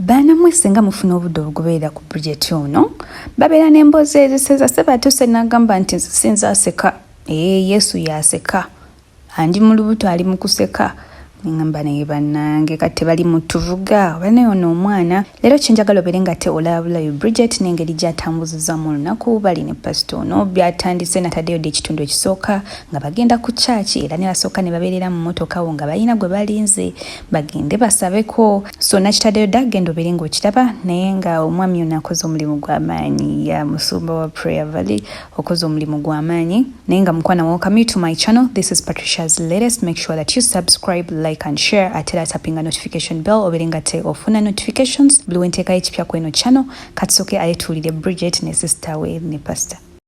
Baana mwe singa mufuna obudde obugoberera ku Bridget ono babeera n'emboozi eziseza seba atuuse n'agamba nti nze sinza aseka ee eh, Yesu yaseka andi mu lubuto ali mu kuseka ngamba naye bannange kati tebali mu tuvuga oba naye ono omwana leero kyenjagala obeere nga te olabulayo Bridget n'engeri gy'atambuzizamu olunaku bali ne pasita ono byatandise nataddeyo dde ekitundu ekisooka nga bagenda ku kyaki era ne basooka ne babeerera mu mmotoka wo nga balina gwe balinze bagende basabeko so nakitaddeyo dda genda obeere ngaokiraba naye nga omwami ono akoze omulimu gw'amaanyi ya musumba wa prayer valley okoze omulimu gw'amaanyi naye nga mukwana welcome you to my channel this is patricia's latest make sure that you subscribe like and share ate era tapinga notification bell obeere nga te ofuna notifications buli wenteekayo ekipya kweno channel katusoke ayetuulire bridget ne sister we ne pastor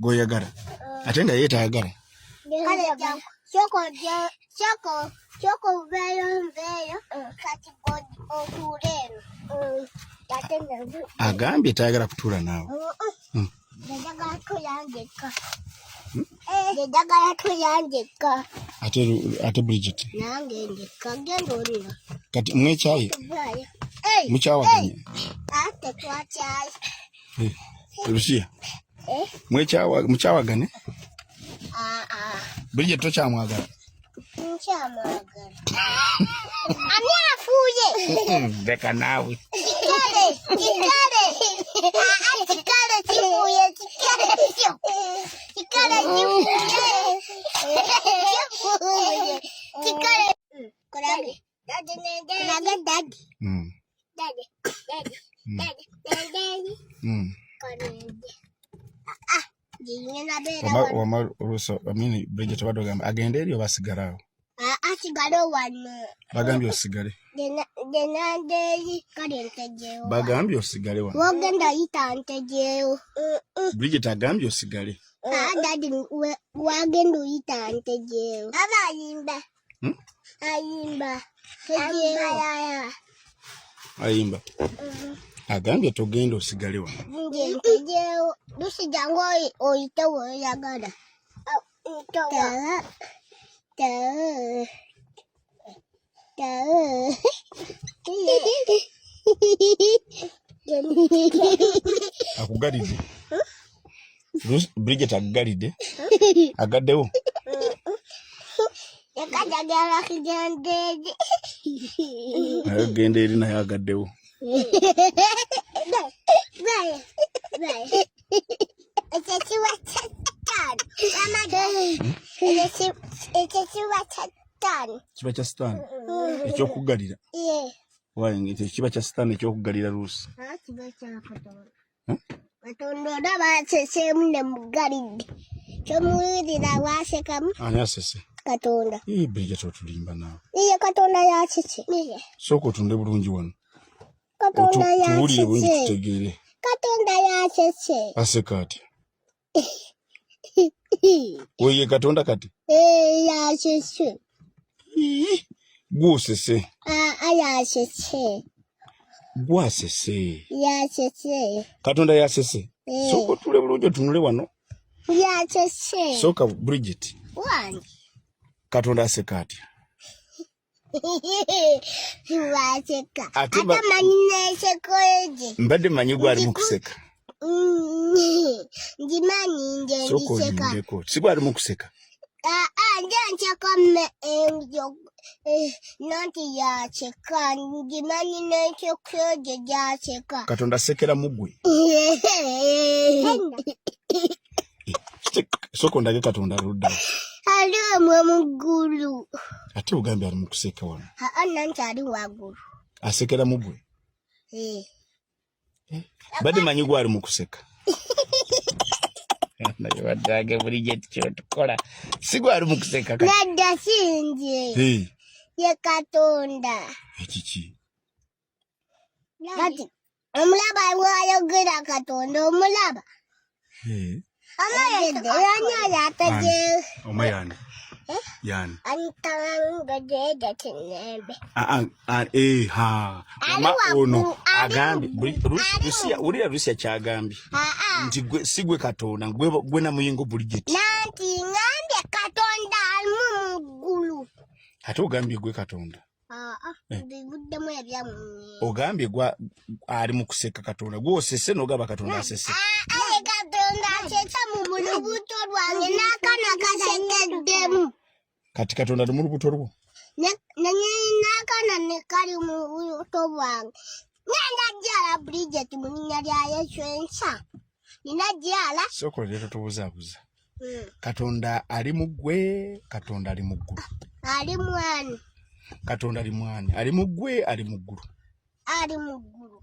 gwoyagala ate nga ye tayagala kyoko obeeyo nveeyo kati otuule eno agambye tayagala kutuula naawe njagala kulya njekka ate ate bridget nange njekka genda olira kati mwe ekyayi mukyawaganya ate twakyayi lusiya Eh? mukyawagane ah, ah. bulijjo tokyamwagala ani afuuye leka naawe Daddy, daddy, daddy. Mm. Daddy, daddy, mm. daddy, daddy, daddy. Mm. Ah, wama oluuso amini bridget obadde ogamba agende eri oba asigaleawo asigale wano bagambye osigale genandeeri kale ntegeewo bagambye osigale wano wogenda yita ntegeewo bridget agambye osigale dadi wagenda oyita ntegeewo abayimba Hmm? Ayimba. Ayimba. Mm-hmm. Agambye togenda osigale wano. Lusijangu oyite woyagala. Tala. Tala. Tala. Akugalidde. Bridget aggalidde agaddewo agenda eri naye agaddewo kiba kya sitaani ekyokuggalira kiba kya sitaani ekyokuggalira luusi katonda olaba aseseemu ne mugalidde kyomuwulira wasekamu ani asese katonda biriget otulimba naawe iye katonda yasese sooka otunde bulungi wano tuwulire bulungi tutegeere katonda yasese aseka atya oye katonda kati yasese gwosese yasese gwasese yasese katonda yasese sooka otule bulungi otunule wano yasese sooka bridget katonda aseka atya Siwaseka. Ate ba- Ate manyi nesekoleje. mbadde manyi gwalimu kuseka Ngimanyi nje sooka ndiseka. olindeko si gwalimu kuseka Ah, ah, nje nseka me enjo. Eh, Nanti yaseka. Ngimanyi nesekoleje yaseka. katonda asekera mugwe sooka ondage katonda ludda ali omwe muggulu ate ogambye ali mukuseka wano anna nti ali waggulu asekera mugwe eh. eh, badde manyi gwe ali mukuseka naye baddange bulijjo tikyotukola si gwe ali mukuseka nadda sinje ye katonda ekiki kati omulaba bwayogera katonda omulaba amayede yanyayo ategere oma yani eh? yani antangajeja kinembe ah, ah, eh, ha ma ono agambye rusia ulira rusia kyagambye ah, nti gwe sigwe katonda gwe gwe na muyingo buligit nanti ngambye katonda alimu muggulu ate ogambye gwe katonda Ah, ah, eh. ogambye gwa ali mu kuseka katonda gwosese nogamba katonda asese ah, katonda asesa mu mulubuto lwange nakana kasekeddemu kati katonda ali mu lubuto lwo nakana nekali mu lubuto lwange nenda jala bridget mu linya lya yesu ensa najala soko lero tubuzabuza hmm. katonda ali mu ggwe katonda ali mu ggulu ali mwani katonda ali mwani ali mu ggwe ali mu ggulu ali mu ggulu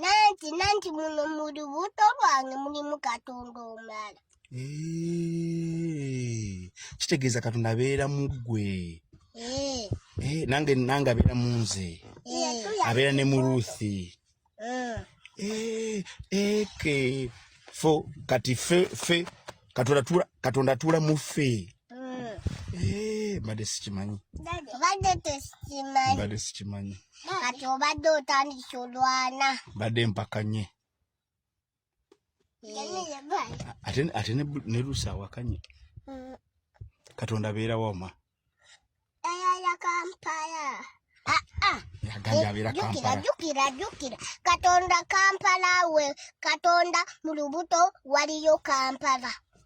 nanti nanti muno mu lubuto lwange mulimu katonda omala kitegeeza katonda abeera mu ggwe eh. eh, nange nange abeera mu nze eh. abeera ne mu ruthi eh. eh, eh, ke fo kati fe fe katonda tula katonda tula mu fe mm. eh bade sikimanyi bade tesikimanyi bade sikimanyi kati obadde otandika olwana bade mpakanye ate ate ne lusa awakanye mm. katonda beera wama ayaya kampala ah, ah. jukira jukira katonda kampala we katonda mu lubuto waliyo kampala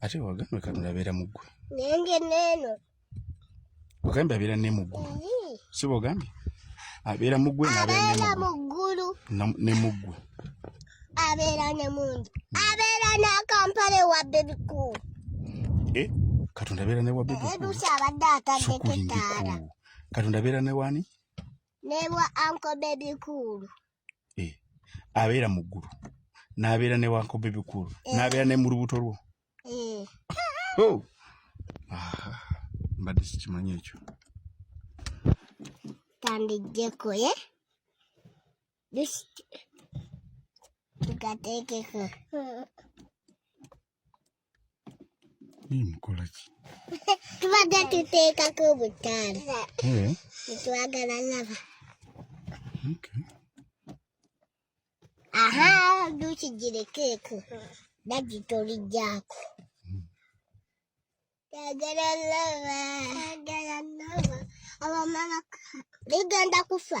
ate wagambe katonda abeera mu ggwe nange neeno wagambe abeera ne mu ggulu si bogambye abeera mu ggwe abeera mu ggulu ne mu ggwe abeera ne mungi abeera n'akampala ewa bebi cool eh, katonda abeera ne wa bebi coolsi abadde atadde tetaala katonda abeera ne wani ne wa anko bebi cool eh, abeera mu ggulu n'abeera ne wankobe bikulu eh. n'abeera ne mu lubuto lwo eh. oh. ah, mbadde sikimanyi ekyo tandijjeko ye tugateekeko Mimi mkola ki. Tubadde tuteeka ku butaala. Eh. Twagala lava. Okay. Aha, duki jire keke. Dadi tori jako. Twagala lava. Twagala lava. Aba mama ligenda kufa.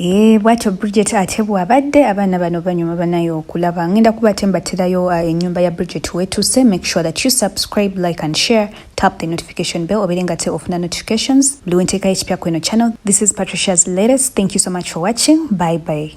Eh, bwatyo bridget ate bwabadde abaana bano banyuma banayo okulaba ngenda kuba ate mbaterayo uh, enyumba ya bridget wetuse make sure that you subscribe like and share tap the notification bell obere nga te ofuna notifications buli wenteekayo ekipya kweno channel this is patricia's latest thank you so much for watching bye bye